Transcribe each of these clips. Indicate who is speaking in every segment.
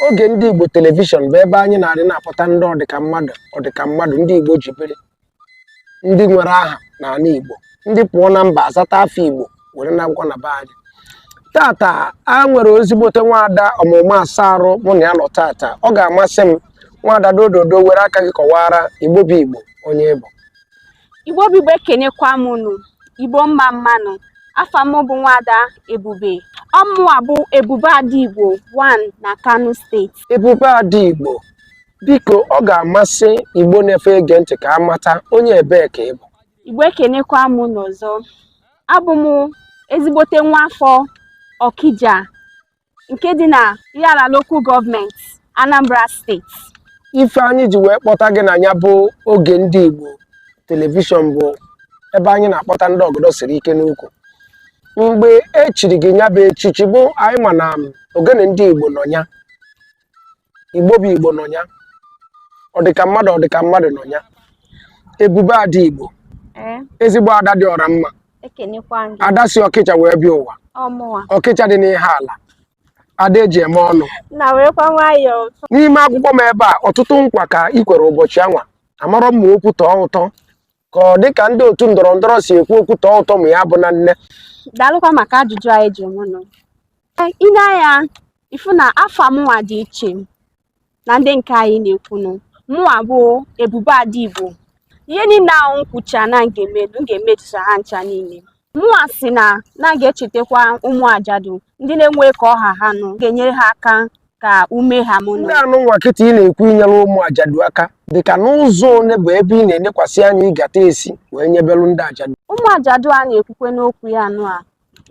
Speaker 1: oge ndị Igbo telivishọn bụ ebe anyị na-adị na-apụta ndị ọdịka mmadụ ọdịka mmadụ ndị Igbo ji biri ndị nwere aha n'ala Igbo ndị pụọ na mba azata afa Igbo were na akwụkwọ na be anyị tata a nwere ezigbote nwaada ọmaụma asa arụ mụ na ya nọ tata ọ ga-amasị m nwaada dododo were aka gị kọwaara Igbo bụ Igbo onye ị bụ Igbo
Speaker 2: bụ Igbo ekenekwa m unu Igbo mma mma nụ afa m bụ nwaada Ebube ọmụwa bụ Ebube Ada Igbo 1 na Kano steeti Ebube Ada
Speaker 1: Igbo biko ọ ga-amasị Igbo na-efe ege ntị ka a mata onye ebee ka ị bụ Igbo ekenekwa
Speaker 2: m unu ọzọ abụ m ezigbote nwa afọ Ọkija nke dị na Ihiala Local Government, Anambra State. ife anyị
Speaker 1: ji wee kpọta gị na ya bụ oge ndị Igbo telivishọn bụ ebe anyị na-akpọta ndị ọgọdọ siri ike n'ukwu mgbe e chiri gị ya bụ echichi bụ anyị ma na ogene ndị Igbo nọ ya igbo bụ igbo nọ ya ọ dị ka mmadụ ọ dị ka mmadụ nọ ya ebube ada igbo ee ezigbo ada dị ọra mma ekenekwa gị ada si ọkija wee bịa ụwa ọmụwa ọkija dị n'ihiala ada eji eme ọnụ nna werekwa nwayọọ n'ime akwụkwọ m ebe a ọtụtụ nkwa ka ị kwere ụbọchị anwa amarọ m ma okwu tọọ ụtọ ka ọ dị ka ndị otu ndọrọ ndọrọ si ekwu okwu tọọ ụtọ ma ya bụ na nne daalụkwa maka
Speaker 2: ajụjụ anụ ị jụ mụnụ i nee anya ị fụ na afa mụnwa dị iche na ndị nke anyị na-ekwunu mụnwa bụ ebube ada igbo ihe niile ahụ m kwucha na m ga-emelu m ga-emetusa ha ncha niile Mụnwa sị na m ga-echetakwa ụmụ ajadu ndị na-enwe ka ọ ha ha nụ ga-enyere ha aka ka ume ha mụnụ. Ndị anụ nwa kịta ị
Speaker 1: na-ekwu inyere ụmụ ajadu aka dị ka n'ụzọ one bụ ebe ị na-enekwasị anya ị ga-ata esi wee nyebelu ndị ajadu. Ụmụ ajadu a
Speaker 2: na-ekwukwanụ okwu ya anụ a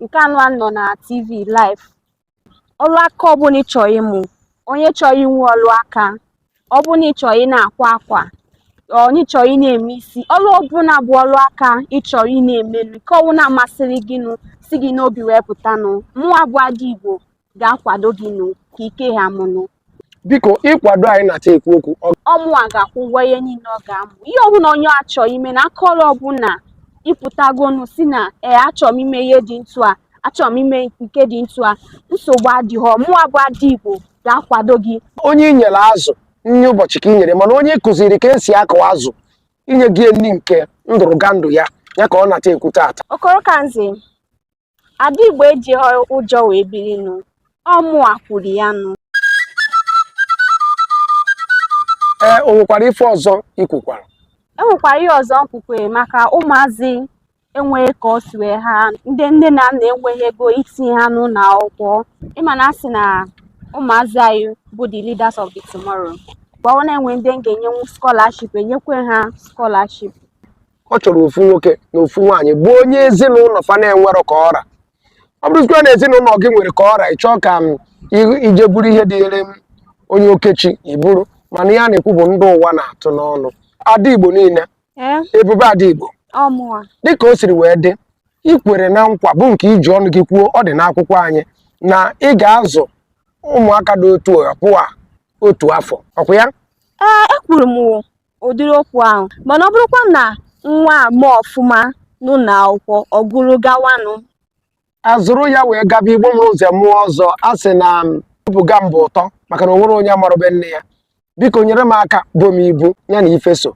Speaker 2: nke anụ a nọ na TV live ọrụ aka ọbụla ị chọrọ ịmụ onye chọrọ inwe ọrụ aka ọ bụrụ na ị chọrọ ị na-akwa akwa onye chọrọ ị na-eme isi ọrụ ọbụla bụ ọrụ aka ị chọrọ ị na-emenu nke ọbụla masịrị gị nụ si gị n'obi wee pụtanụ mụwa bụ ada igbo ga-akwado gị nụ ka ike ha mụnụ
Speaker 1: biko ịkwado anyị na-ata ekwu okwu ọmụwa
Speaker 2: ga-akwụ ụgwọ ihe niile ọ ga-amụ ihe ọbụla onye a chọ ime na aka ọrụ ọbụla ị pụtagonu sị na ee achọ m ime ihe dị ntu a achọ m ime nke dị ntu a nsogbu adịghọ mụwa bụ ada igbo ga-akwado gị onye i nyere
Speaker 1: azụ nri ụbọchị ka i nyere mana onye ị kụziri ka esi akụ azụ i nyego ya nri nke ndụrụgandụ ya ya ka ọ na-ata ekwu taata okoro kanze
Speaker 2: Ada Igbo ejighị ụjọ wee biri nụ, ọ mụwa kwuru ya
Speaker 1: nụ. Ee, o nwekwara ife ọzọ i kwukwara? E nwekwara ihe
Speaker 2: ọzọ m kwukwere maka ụmụazị enweghị ka o si wee ha ndị nne na nna enweghị ego itinye ha n'ụlọ akwụkwọ ị ma na a sị na ụmụazị anyị bụ the leaders of the tomorrow gbawa na e nwee ndị m ga-enyenwu scholarship e nyekwe ha scholarship ọ
Speaker 1: chọrọ ofu nwoke na ofu nwaanyị bụ onye ezinụlọ fa na-enwerọ ka ọ ra ọ bụrụzikwa na ezinụlọ gị nwere ka ọ ra ị chọọ ka m i- i je buru ihe dịnyere m onye okechi iburu mana ihe a na-ekwu bụ ndị ụwa na-atụ n'ọnụ ada igbo niile ee ebube ada igbo ọmụwa dịka o siri wee dị i kwere na nkwa bụ nke i ji ọnụ gị kwuo ọ dị n'akwụkwọ anyị na ị ga-azụ ụmụaka dị otu a pụọ otu afọ ọ kwa ya ee ekwuru m
Speaker 2: o ụdịrị okwu ahụ mana ọ bụrụkwa na nwa a ma ọfụma n'ụlọ akwụkwọ ọ gụrụ gawanụ a
Speaker 1: zụrụ ya wee gaba igbo mụrụ nze mụọ ọzọ a sị na bụga m bụ ụtọ maka na o nwere onye amarụbe nne ya biko nyere m aka bo m ibu ya na ife so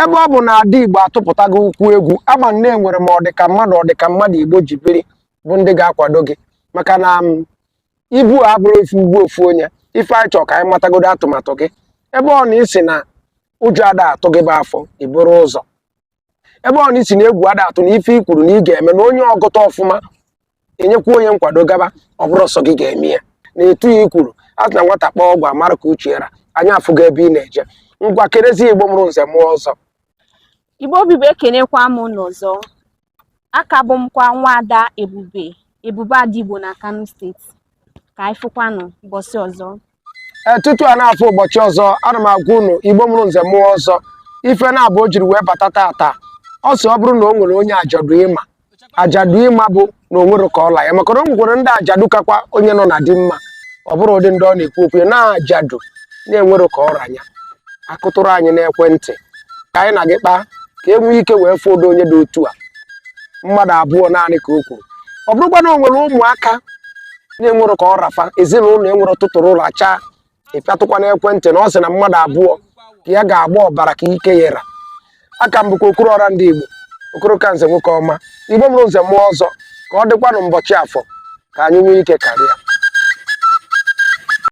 Speaker 1: ebe ọ bụ na ada igbo atụpụtago ụkwụ egwu a ma na e nwere ma ọdịka mmadụ ọdịka mmadụ igbo ji biri bụ ndị ga-akwado gị maka na ibu abụrọ ofu ibu ofu onye ife anyị chọrọ ka anyị matagodo atụmatụ gị ebe ọ na ị sị na ụjọ ada atụ gị bụ afọ i buru ụzọ ebe ọ na ị sị na egwu ada atụ na ife i kwuru na ị ga-eme na onye ọ gụta ọfụma e nyekwa onye nkwado gaba ọ bụrọ sọ gị ga-eme ya na etu a i kwuru a sị na nwata kpaa agwa a mara ka uche ra anyị afụgo ebe ị na-eje ngwa kerezi igbo mụrụ nze mụọ ọzọ igbo
Speaker 2: obibi ekenekwa m unu ọzọ a ka bụ m kwa nwa ada ebube ebube ada igbo na kano steeti ka anyị fụkwanụ ụbọchị ọzọ ee tutu a
Speaker 1: na-afụ ụbọchị ọzọ ana m agwa unu igbo mụrụ nze mụọ ọzọ ife na-abụ o jiri wee bata tata ọ sị ọ bụrụ na o nwere onye ajadu ị ma ajadu ị ma bụ na o nwerọ ka ọ ra ya maka na o nwekwara ndị ajadu kakwa onye nọ na di mma ọ bụrụ ụdị ndị ọ na-ekwu okwu ya na ajadu na-enwerọ ka ọ ra ya a kụtụrụ anyị n'ekwentị ka anyị na gị kpaa ka e nwee ike wee fọdụ onye dị otu a mmadụ abụọ naanị ka o kwuru ọ bụrụkwa na o nwere ụmụaka na-enwerọ ka ọ ra fa ezinụlọ enwerọ tụtụrụ lachaa ị pịatụkwa n'ekwentị na ọ sị na mmadụ abụọ ka ya ga-agba ọbara ka ike ya ra a ka m bụkwa okoro ọra ndị Igbo okoro ka nze nwoke ọma igbo mụrụ nze mụọ ọzọ ka ọ dịkwanụ mbọchị afọ ka anyị nwee ike karịa